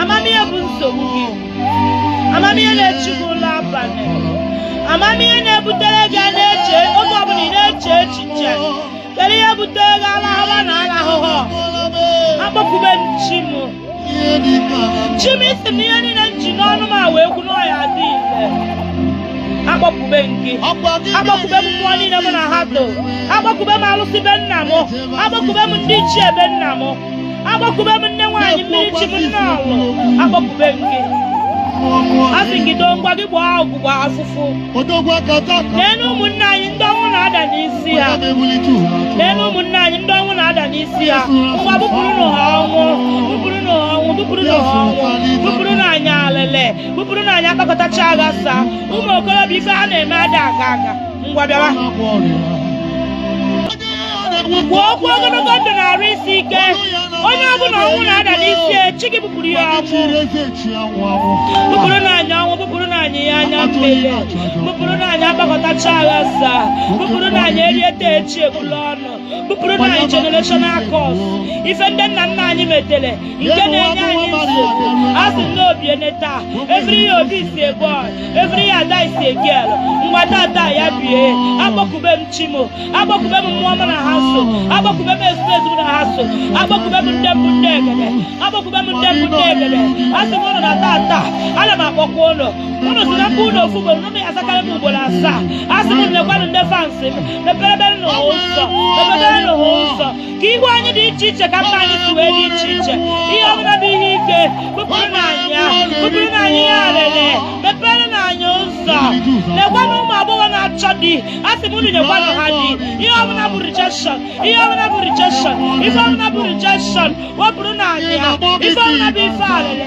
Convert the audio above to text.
ama m ihe bụ nsogbu gị ama m ihe na-echu gị ụla abalị ama m ihe na-ebutere gị a na-eche oge ọbụla ị na-eche echiche kedu ihe butere gị alahara na alahụhụ akpọkube m chi m chi m ị sị na ihe niile m ji n'ọnụ m a wee kwu na ọ ya-adị ile akpọkube m gị akpọkube m mmụọ niile mụ na ha so akpọkube m alụsị be nna m akpọkube m ndị ichie be nna m akpọkube m nne nwaanyị mmiri chi m na-alụ akpọkube m gị asị gị doo ngwa gị gbaa ọgwụgwọ afụfụ nenụ ụmụnne anyị ndị ọnwụ na-ada n'isi ha nenụ ụmụnne anyị ndị ọnwụ na-ada n'isi ha ngwa bupụrụ nụ ha ọnwụ bupụrụ nụ ha ọnwụ bupụrụ nụ ha ọnwụ bupụrụ nụ anyị alịlị bupụrụ nụ anyị akpakọtacha aghasa ụmụ okorobịa ife ha na-eme ada aga aga ngwa bịawa kwuo okwu ogologo ndụ na arụ isi ike onye ọbụla ọnwụ na-ada n'isi ya chi gị kpupụrụ ya ọnwụ kpupụrụ nụ anyị ọnwụ kpupụrụ nụ anyị ya anya mmele kpupụrụ nụ anyị akpakọtacha aghasa kpupụrụ nụ anyị erie taa echi ebulu ọnụ kpupụrụ nụ anyị generational curse ife ndị nna nna anyị metere nke na-enye anyị nsogbu a sị na o bie na taa efere ya obi si egbu efere ya ada isi egel ngwa taata ya bie akpọkube m chi m akpọkube m mmụọ mụ na ha so akpọkube m ezumezu mụ na ha so akpọkube m ndị mbụ ndị egede akpọkube m ndị mbụ ndị egede a sị m unu na taata ana m akpọku unu unu sị na m kpọọ unu ofu ugboro unu azakarị m ugboro asaa a sị m lekwanụ ndị fans m meperebere nụ ha ụzọ meperebere nụ ha ụzọ ka ihu anyị dị iche iche ka mkpa anyị si wee dị iche iche ihe ọbụla bụ ihe ike kpupụrụ nụ anyị ya kpupụrụ nụ anyị ya arịrị mepere nụ anyị ụzọ lekwanụ ụmụ agbọghọ na-achọ di a sị m unu nyekwanụ ha di ihe ọbụla bụ rejection ihe ọbụla bụ rejection ife ọbụla bụ rejection wepụrụ nụ anyị ya ife ọbụla bụ ife arịrị